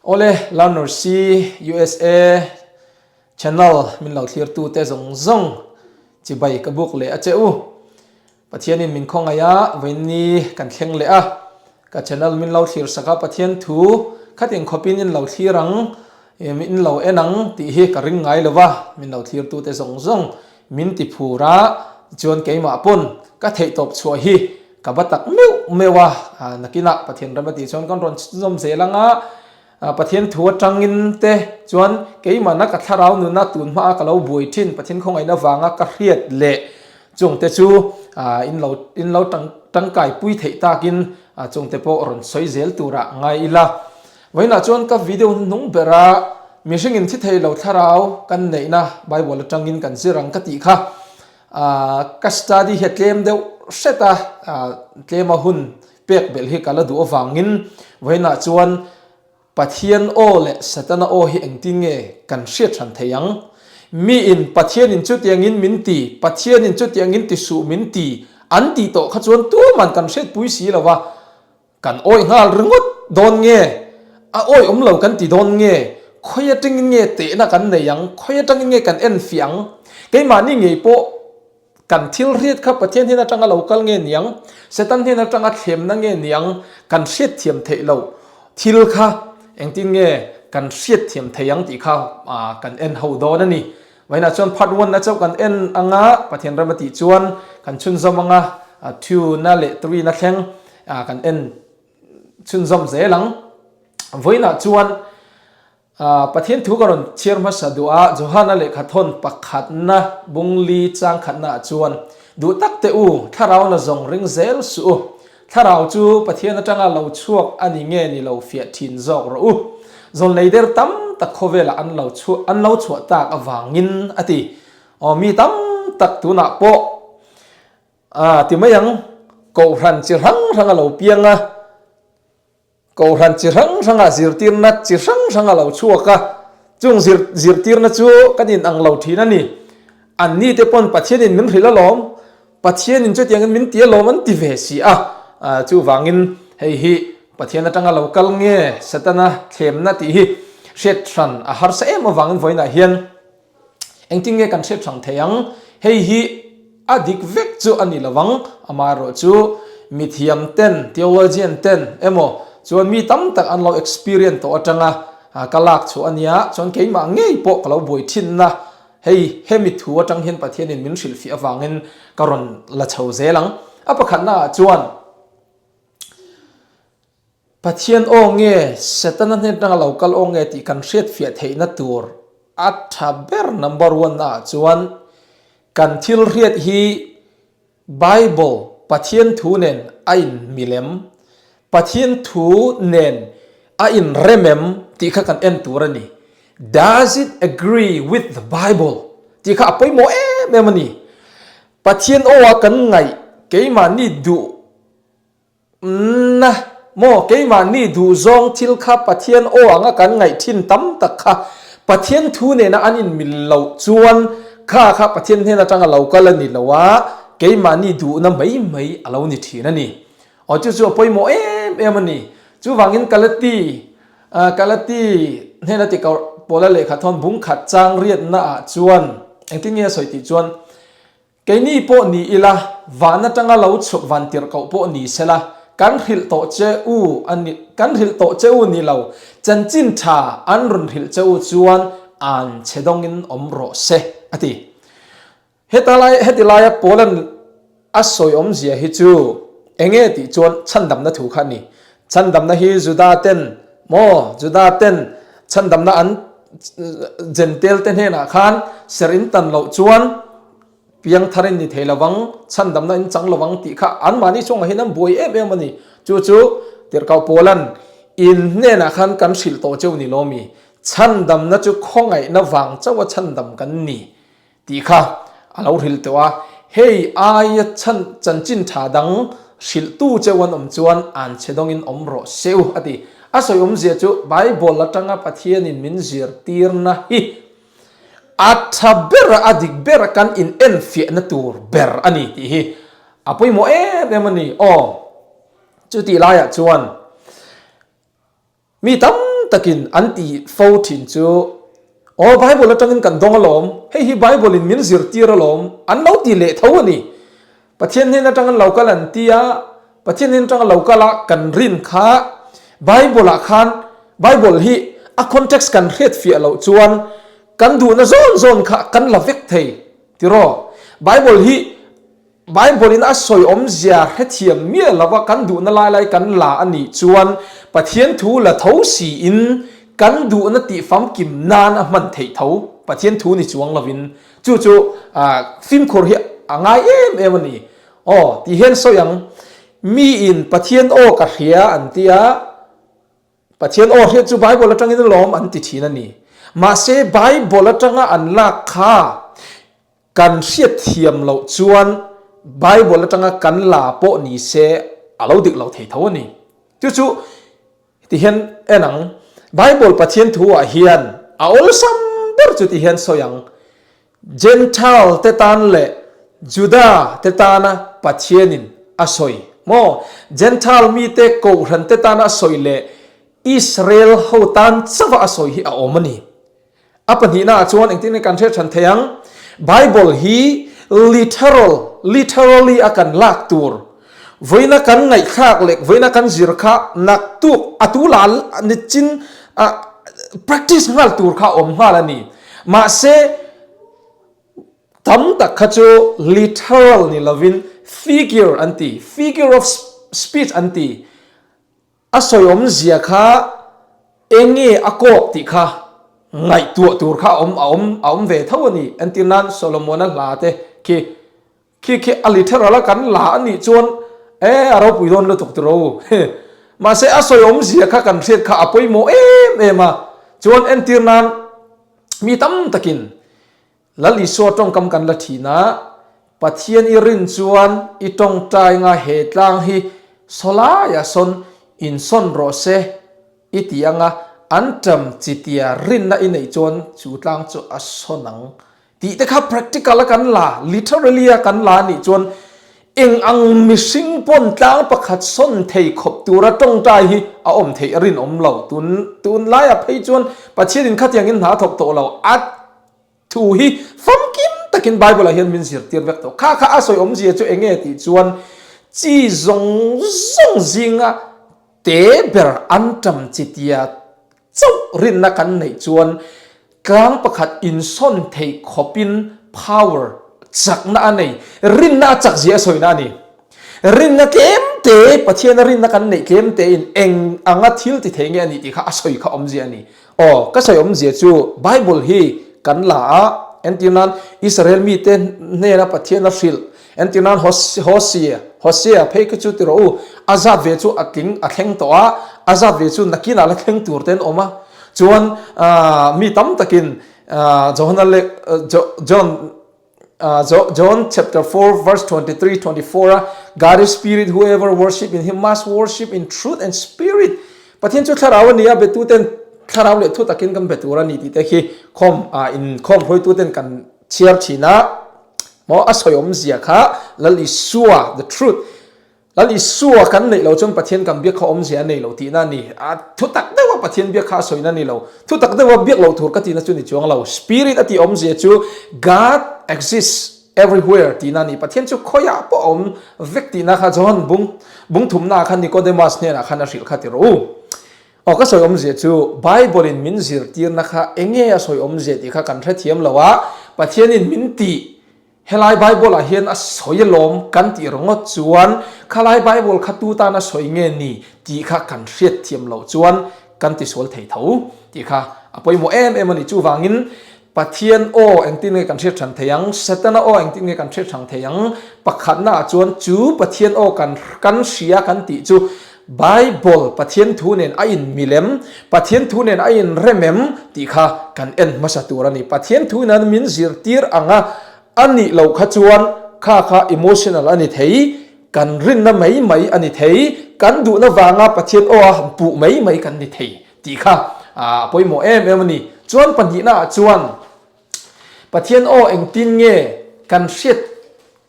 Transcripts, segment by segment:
Awle Learners i usa channel min lo thlir tu te zawng zawng chibai ka buk leh a che u. Pathian in min khawngaih a vainni kan thleng leh a. Ka channel min lo thlir sak a Pathian thu khat in khawp in in lo thlir ang in lo en ang tih hi ka ring ngai lo va. Min lo thlir tu te zawng zawng Min ti phur a, tichuan keimah pawn ka theih tawp chhuah hi ka va tak meuh meuh a, nakinah Pathian rem atih chuan kan rawn chawm zel ang a, Pathian thu atangin te chuan keimahna ka thlarau nunna tun hma a ka lo buai thin, Pathian khawngaihna vanga ka hriat leh chung te chu in lo in lo tangkai pui theih takin chungte pawh rawn sawi zel turah ngai ila. Vawiinah chuan ka video hi hnung berha mihringin thi thei lo thlarau kan neihna Bible atangin kan zir ang ka tih kha ka study hi a tlem deuh hret a, tlema hun pek belh hi ka la duh avangin vawiinah chuan Pathian aw leh Satana aw hi engtin nge kan hriat hran thei ang? Miin Pathianin chutiangin min ti, Pathianin chutiangin ti suh min ti an tih tawh kha chuan tuman kan hriatpui si lo va, Kan awih nghal ringawt dawn nge? A awih awm lo kan ti dawn nge? Khawi atangin nge tehna kan nei ang? Khawi atangin nge kan en fiah ang? Keimahni ngei pawh kan thil hriat kha Pathian hnen atanga lo kal nge ni ang? Satan hnen atanga thlemna nge ni ang? Kan hriatthiam theih loh thil kha engtin nge kan hriatthiam thei ang tih kha kan en ho dawn a ni. Vawiinah chuan phatvawnna chauh kan en ang a, Pathian ram atih chuan kan chhunzawm ang a, Tuna leh Turina thleng kan en chhunzawm zel ang. Vawiinah chuan Pathian thu ka rawn chhiar hmasa duh a, Johana lehkha thawn pakhatna bungli changkhatnaah chuan, Duh tak teh u, thlarauna zawng ring zel suh u, Thlarau chu Pathian atanga lo chhuak a ni nge ni lo fiah thin zawk rawh u. Zawn leider tam tak khawvelah an lo chhuah an lo chhuah tak avangin a ti. Aw mi tam tak tunah pawh aa ti mai ang, kohhran chi hrang hrang a lo piang a. Kohhran chi hrang hranga zirtirna chi hrang hrang a lo chhuak a, chung zir zirtirna chu kan inang lo thin a ni. An ni te pawn Pathianin min hrilh alawm, Pathianin chutiangin min ti alawm an ti ve si a. Chuvangin hei hi Pathian atanga lo kal nge Satana thlemna tih hi hriat hran a harsa em avangin vawiinah hian, Engtin nge kan hriat hrang thei ang? Hei hi a dik vek chu a ni lo vang. Amah erawh chu mithiam ten, theologian ten emaw chuan mi tam tak an lo experience tawh atanga ka lak chhuah a nia. Chuan keimah ngei pawh ka lo buai thinna hei hemi thu atang hian Pathianin min hrilhfiah avangin ka rawn la chho zel ang. A pakhatnaah chuan Pathian aw nge, Setana hnen tang a lo kal aw nge tih kan hriatfiah theihna tur a tha ber number one naah chuan kan thil hriat hi Bible, Pathian thu nen a inhmil em, Pathian thu nen a inrem em tih kha kan en tur a ni. Does it agree with the Bible? tih kha a pawimawh em em a ni. Pathian aw a kan ngaih keimahni duh. Umna, maw keimahni duhzawng thil kha Pathian aw anga kan ngaih thin tam tak kha Pathian thu nena an inmil loh chuan ka kha Pathian hnen atanga lo kal a ni lo a, keimahni duhna mai mai a lo ni thin a ni. Aw chu chu a pawimawh em em a ni. Chuvangin Kalati, ah, Kalati hnena tikau pawla lehkha thawn bungkhat chang riatna ah chuan engtin nge a sawi tih chuan, Keini pawh ni ila, van atanga lo chhuk van tirh koh pawh ni sela, kan hrilh tawh che u a ni, kan hrilh tawh che u ni lo, chanchin tha an rawn hrilh che u chuan an che dawngin awm rawh se, a ti. Heta lai, heti laia Poland a sawiawmzia hi chu enge tih chuan chhandamna thu kha a ni. Chhandamna hi Judaten maw? Judaten chhandamna an Jentalte hnenah khan ser in tan loh chuan piangthar in ni thei lovang, chhandamna in chang lovang tih kha an mahni chungah hian an buai em em a ni. Chu chu tirhkoh Paula'n, In hnenah khan kan hrilh tawh cheu ni lomi, chhandamna chu khawngaihna vang chauha chhandam kan ni. Tih kha a lo hrilh tawh a, hei aia chhan chanchin tha dang hrilhtu cheu an awm chuan an chhedawngin awm rawh seuh a ti. A sawi awmzia chu Bible atanga Pathianin min zirtirna hi a tha bera, a dik bera kan inenfiahna tur ber a ni tih hi a pawimawh em em a ni. Aw, chutih laiah chuan. Mi tam takin an ti fo thin chu, Aw, Bible atangin kan dawng alawm, hei hi Bible in min zirtir alawm, an lo ti leh tho a ni. Pathian hnen atang an lo kal an ti a, Pathian hnen atang a lo kal a kan rin kha Bible ah khan Bible hi a context kan hretfiah loh chuan kan duhna zawn zawn kha kan la vek thei tiraw? Bible hi. Bible in a sawi awmzia hrethiam miah lova kan duhna lai lai kan la a nih chuan Pathian thu la tho siin kan duhna tih famkim nan a hman theih tho. Pathian thu ni chuang lovin chu chu fimkhur hi a ngai em em a ni. Aw, tih hian sawi ang. Mi in Pathian aw ka hria an ti a, Pathian aw hriat chu Bible atangin a lawm an ti thin a ni. Mahse Bible atanga an lak kha Kan hriatthiam loh chuan Bible atanga kan la pawh ni se a lo dirh lo thei tho a ni. Chu chu ti hian en ang, Bible Pathian thu-ah hian a awlsam ber chu ti hian sawi ang, Gentile te tan leh Juda te tana Pathianin a sawi maw? Gentile mite kohhran te tana a sawi leh Israel ho tan chauh-a a sawi hi a awm a ni. A pahnihna ah chuan engtin nge kan hriat hran thei ang? Bible hi literal, literally a kan lak tur, vawiina kan ngaihthlak leh vawiina kan zir kha nak tuk a tu la nichin practice nghal tur kha a awm nghal a ni. Mahse, tam tak kha chu literal ni lovin figure an ti, figure of speech an ti. A sawi awmzia kha eng nge a kawk tih kha ngaihtuah tur kha a awm a awm ve tho a ni. Entir nan Solomona hla te khi khi khi a literal a kan la a nih chuan e a ropui dawn lutuk tur aw. Mahse a sawi awmzia kha kan hriat kha a pawimawh em em a. Chuan entir nan mi tam takin Lal Isua tawngkam kan la thinah Pathian i rin chuan i tawngtainga he tlang hi saw laia sawn insawn rawh se i ti anga an ṭam chi tia rinna i neih chuan chu tlang chu a sawn ang tih te kha practical a kan la, literally a kan la nih chuan eng ang mihring pawn tlang pakhat sawn thei khawp tura tawngtai hi a awm theih a rinawm lo. Tun tunlaiah phei chuan Pathianin khatiangin hna thawk tawh lo a Thu hi famkim takin Bible-ah hian min zirtir vek tawh kha kha a sawi awmzia chu eng nge tih chuan chi zawng zawng zinga te ber an ṭam chi tia chauh rinna kan neih chuan tlang pakhat insawn theih khawpin power chakna a nei, rinna a chakzia a sawina a ni. Rinna tlem te, Pathiana rinna kan neih tlem tein eng anga thil ti thei nge a nih tih kha a sawi kha awmzia a ni. Aw, ka sawi awmzia chu Bible hi kan la a, entir nan Israel mite hnena Pathiana hrilh, entir nan Hosea, Hosea, phei ka chu ti rawh u, a zat ve chu a tling a thleng tawh a, a zat ve chu nakinah la thleng tur te an awm a. Chuan mi tam takin Johana leh John. John chapter four verse twenty three twenty four a God's spirit whoever worship in him must worship in truth and spirit Pathian chu thlarau a ni a betu ten thlarau leh thu takin kan be tur a ni tih te khi khawm a in khawm hruaitu ten kan chhiar thin a maw a sawiawm zia kha lal Isua the truth Lal Isua kan neih lo chuan Pathian kan biak kha awmzia a nei lo tihna a ni. A thutak deuha Pathian biak kha a sawina a ni lo. Thutak deuha biak loh tur ka tihna chu a ni chuang lo. Spirit a tih awmzia chu God exists everywhere tihna a ni. Pathian chu khawiah pawh a awm vek tihna kha John bung bung thumna ah khan Nicodemus hnenah khan a hrilh kha ti rawh u. Aw ka sawi awmzia chu Bible in min zirtirna kha enge a sawi awmzia tih kha kan hrethiam lo a, Pathian in min tih Helai Bible-ah hian a sawi alawm kan tih reng ngawt chuan Khalai Bible kha tu tan a sawi nge ni tih kha kan hriat thiam loh chuan kan ti sual thei tho tih kha a pawimawh em em a ni. Chuvangin Pathian aw engtin nge kan hriat ṭhan thei ang, Satana aw engtin nge kan hriat hrang thei ang, pakhatnaah chuan chu Pathian aw kan kan hria kan tih chu Bible, Pathian thu nen a inmil em? Pathian thu nen a inrem em? tih kha kan en hmasa tur a ni. Pathian thu in an min zirtir ang a, a nih loh kha chuan kha kha emotional a ni thei, kan rinna mai mai a ni thei, kan duhna vanga Pathian aw a han puh mai mai kan ni thei tih kha a pawimawh em em a ni. Chuan pahnihnah ah chuan. Pathian aw engtin nge kan hriat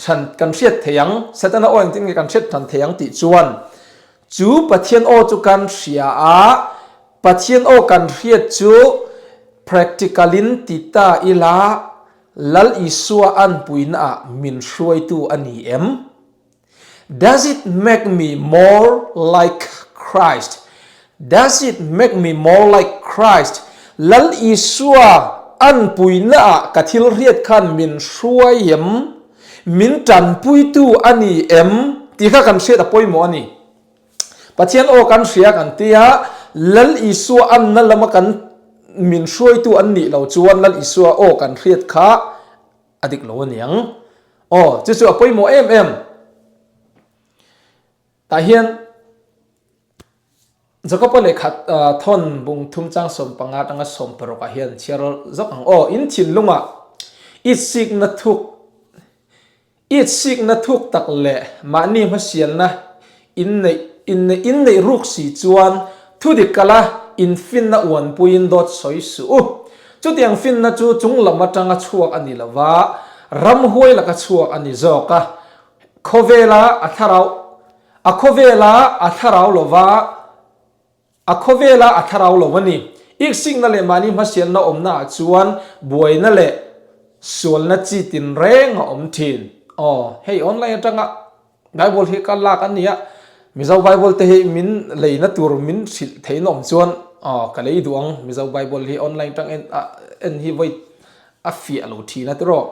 hran kan hriat theih ang? Satana aw engtin nge kan hriat hran theih ang tih chuan chu Pathian aw chu kan hria a, Pathian aw kan hriat chu practical in ti ta ila Lal Isua an puinaah min hruaitu a ni em? Does it make me more like Christ? Does it make me more like Christ? Lal Isua an puina ah ka thil hriat khan min hruai em? Min tanpuitu a ni em? Tih kha kan hriat a pawimawh a ni. Pathian aw kan hria kan ti a, Lal Isua anna lama kan min hruaitu an nih lo chuan Lal Isua aw kan hriat kha, A dik lo a niang. Aw, chu chu a pawimawh em em. Tah hian Jakopa lehkha thawn bung thum chang sawm panga atanga sawm parukah hian chhiar zawk ang. Aw, in thinlunga it sikna thuk it sikna thuk tak leh mahni hmasialna, Inneih, inneih, inneih ruk si chuan thu dik kal a, infinna uanpuiin dawt sawi suh u. Chutiang finna chu chung lam atanga chhuak a ni lova, ram huai laka chhuak a ni zawk a. Khawvela a thlarau, a khawvela a thlarau lova. A khawvela a thlarau lo a ni. Iksikna leh mahni hmasialna awmnaah chuan buaina leh sualna chi tinreng a awm thin. Aw, hei online atanga Bible hi kal lak an ni a, Mizo Bible te hi min leina tur min hrilh theihna awm chuan aw ka lei duh ang, Mizo Bible hi online atang en hi vawi a fiah lo thin a tiraw?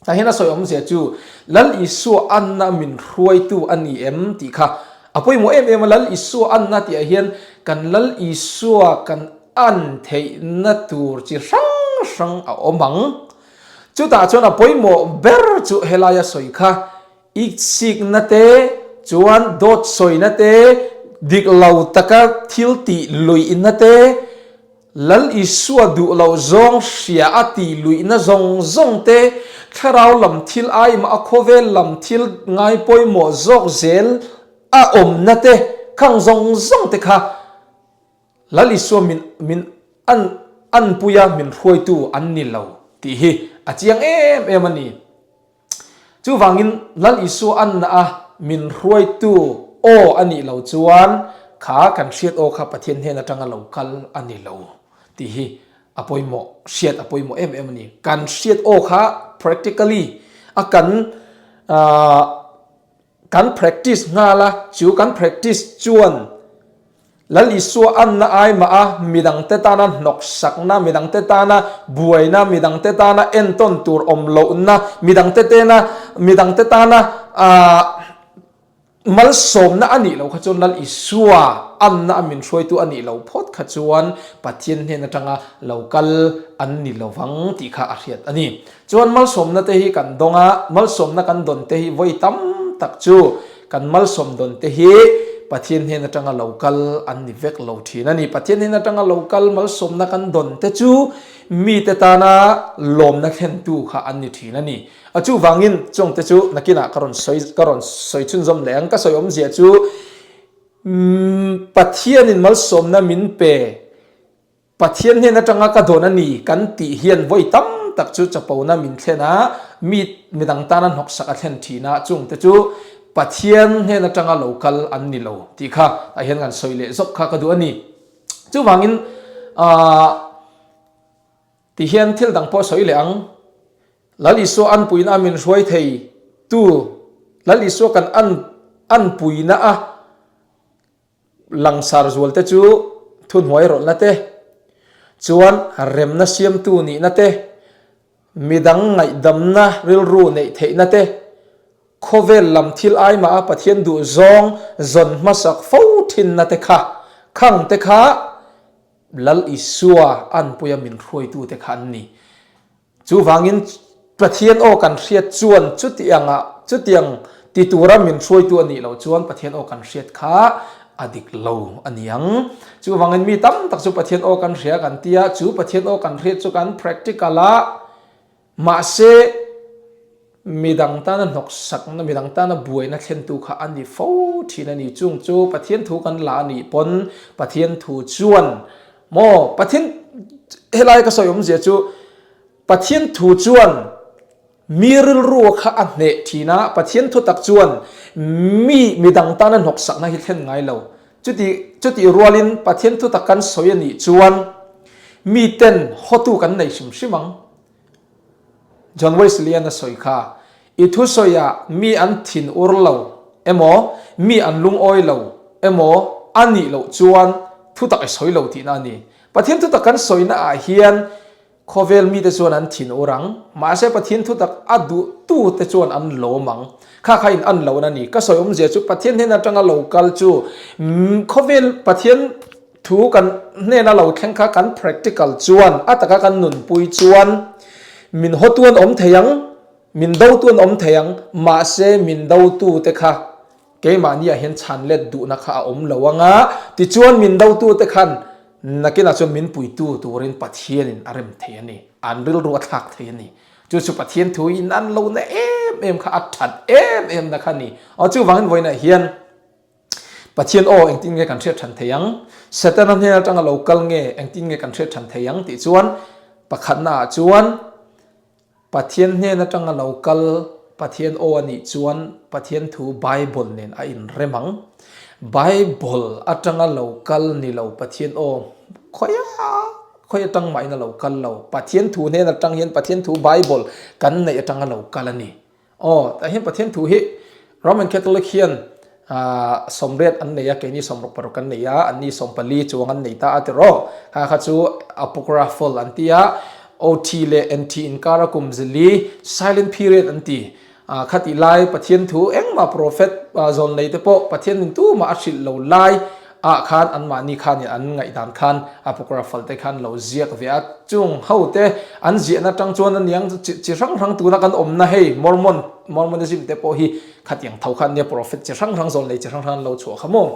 Tah hian a sawi awmzia chu, Lal Isua anna a min hruaitu a ni em? tih kha a pawimawh em em a. Lal Isua anna tihah hian kan Lal Isua kan an theihna tur chi hrang hrang a awm ang. Chutah chuan a pawimawh ber chu helai a sawi kha, Iksikna te, chuan dawt sawina te, dik lo taka thil tih luihna te, Lal Isua duh loh zawng hria a tih luihna zawng zawng te, thlarau lam thil aima a khawvel lam thil ngai pawimawh zawk zel a awmna te khang zawng zawng te kha Lal Isua min min an an puia min hruaitu an ni lo tih hi a chiang em em a ni. Chuvangin Lal Isua anna a min hruaitu aw a nih lo chuan kha kan hriat aw kha Pathian hnen atanga lo kal a ni lo tih hi a pawimawh hriat a pawimawh em em a ni. Kan hriat aw kha practically a kan Kan practice nghal a, chu kan practice chuan Lalisua anna ai mah a, midang te tana hnawksakna, midang te tana buaina, midang te tana entawn tur awm lohna, midang te tena, midang te tana aah malsawmna a nih loh kha chuan Lalisua anna a min hruai tu a nih loh phawt kha chuan Pathian hnen atanga lo kal an ni lovang tih kha a hriat a ni. Chuan malsawmna te hi kan dawng a, malsawmna kan dawn te hi vawi tam tak chu kan malsawm dawn te hi Pathian hnen atanga lo kal an ni vek lo thin a ni. Pathian hnen atanga lo kal malsawmna kan dawn te chu mite tana lawmna thlentu kha an ni thin a ni. A chuvangin chawng te chu nakinah ka rawn sawi ka rawn sawi chhunzawm leh ang. Ka sawi awmzia chu umm Pathianin malsawmna min pe Pathian hian atanga ka dawn a ni kan tih hian vawi tam tak chu chapona min thlen a, mi midang tana hnawksaka thlen thin a, chungte chu Pathian hian atanga lo kal an ni lo tih kha a hian kan sawi leh zawk kha ka duh a ni. Chuvangin aah tih hian thil dang pawh sawi leh ang. Lal Isua an puina a min hruai thei tu, Lal Isua kan an an puina a Langsar zualte chu thuhnuai rawlhna te, chuan remna siamtu nihna te, midang ngaihdamna rilru neih theihna te, khawvel lam thil aima a Pathian duh zawng zawn hmasak fo thinna te kha khang te kha Lal Isua an puia min hruaitu te kha an ni. Chuvangin Pathian aw kan hriat chuan chutiang a chutiang ti tura min hruaitu a nih loh chuan Pathian aw kan hriat kha a dik lo a ni ang. Chuvangin mi tam tak chu Pathian aw kan hria kan ti a, chu Pathian aw kan hriat chu kan practical a mahse, Midang tana hnawksakna, midang tana buaina thlentu kha a ni fo thin a ni. Chung chu Pathian thu kan la a nih pawn Pathian thu chuan maw Pathian helai ka sawi awmzia chu Pathian thu chuan mi rilru kha a hneh thin a, Pathian thu tak chuan mi midang tana hnawksakna hi thlen ngai lo. Chuti chutih rualin Pathian thu tak kan sawi a nih chuan miten hawtu kan nei hrim hrim ang. John Wesley-an a sawi kha, I thusawiah mi an thin ur lo emaw, mi an lungawi lo emaw a nih loh chuan thutak i sawi lo tihna a ni. Pathian thutak kan sawina ah hian khawvel mite chuan an thin ur ang, mahse Pathian thutak a duhtu te chuan an lawm ang. Kha kha in an loh na ni. Ka sawiawmzia chu Pathian hnen atanga lo kal chu khawvel Pathian. Thu kan hnena lo thleng kha kan practical chuan a taka kan nunpui chuan min haw tu an awm thei ang, min do tu an awm thei ang, mahse min do tu te kha keimahni ah hian chhan let duhna kha a awm lo anga tichuan min do tu te khan nakin ah chuan min pui tu turin Pathian in a rem thei a ni, an rilru a thlak thei a ni. Chu chu Pathian thu hi nan lo na em em kha a that em em na kha a ni. Chu vangin vawiinah hian. Pathian aw, engtin nge kan hriat than thei ang? Setana hnen atanga lo kal nge engtin nge kan hriat than thei ang? tih chuan pakhatnaah chuan Pathian hnen atanga lo kal, Pathian aw a nih chuan Pathian thu Bible nen a inrem ang. Bible atanga lo kal ni lo Pathian aw, khawiah khawi atang mahin a lo kal lo. Pathian thu hnen atang hian Pathian thu Bible kan neih atanga lo kal a ni. Aw, tah hian Pathian thu hi Roman Catholic hian sawmriat an nei a, keini sawm ruk paruk an nei a, an ni sawm pali chuang an nei ta a ti rawh. Kha kha chu Apocryphal an ti a, OT leh NT inkara kum zili, Silent Period an ti. Khati lai Pathian thu engmah Prophet zawn neite pawh Pathian intumah a hrilh lo lai. Ah khan anmahni khanin an ngaih dan khan apocryphal te khan lo ziak ve a, chung ho te an ziahna atang chuan a niang chu chi chi hrang hrang tuna kan awmna hei Mormon Mormonism te pawh hi khatiang tho khan a nia prophet chi hrang hrang zawn lei chi hrang hrang an lo chhuah kha maw.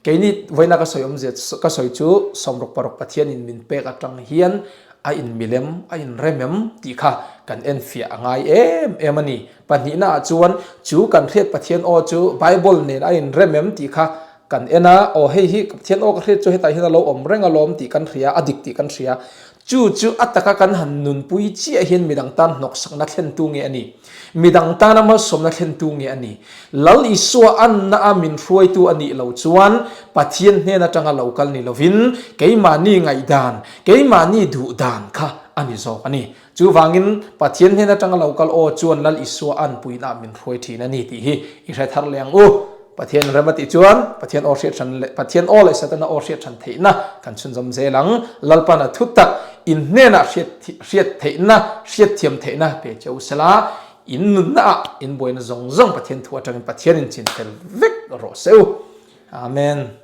Keini vawiina ka sawi awm zia ka sawi chu sawmruk paruk Pathianin min pek atang hian a in milem a in rem em tih kha kan en fiah a ngai em em a ni. Pahnihna ah chuan chu kan hriat Pathian aw chu Bible nen a in rem em tih kha kan en a, aw hei hi ka Pathian aw ka hriat chu hetah hian a lo awm reng alawm tih kan hria, a dik tih kan hria. Chu chu a taka kan han nunpui chiah hian midang tan hnawksakna thlentu nge a ni? Midang tana malsawmna thlentu nge a ni? Lal Isua anna a min hruaitu a nih lo chuan Pathian hnen atanga lo kal ni lovin keimahni ngaihdan, keimahni duhdan kha a ni zawk a ni. Chuvangin, Pathian hnen atang a lo kal aw, chuan Lal Isua an puiinah min hruai thin a ni tih hi i hre thar leh ang u. Pathian rem a tih chuan Pathian aw hriat than leh Pathian aw leh Satana aw hriat than theihna kan chhunzawm zel ang. Lalpana thutak in hnenah hriat hriat theihna, hriatthiam theihna pe che u sela, in nunna ah in buaina zawng zawng Pathian thu atangin Pathian in chin tel vek rawh se u. Amen.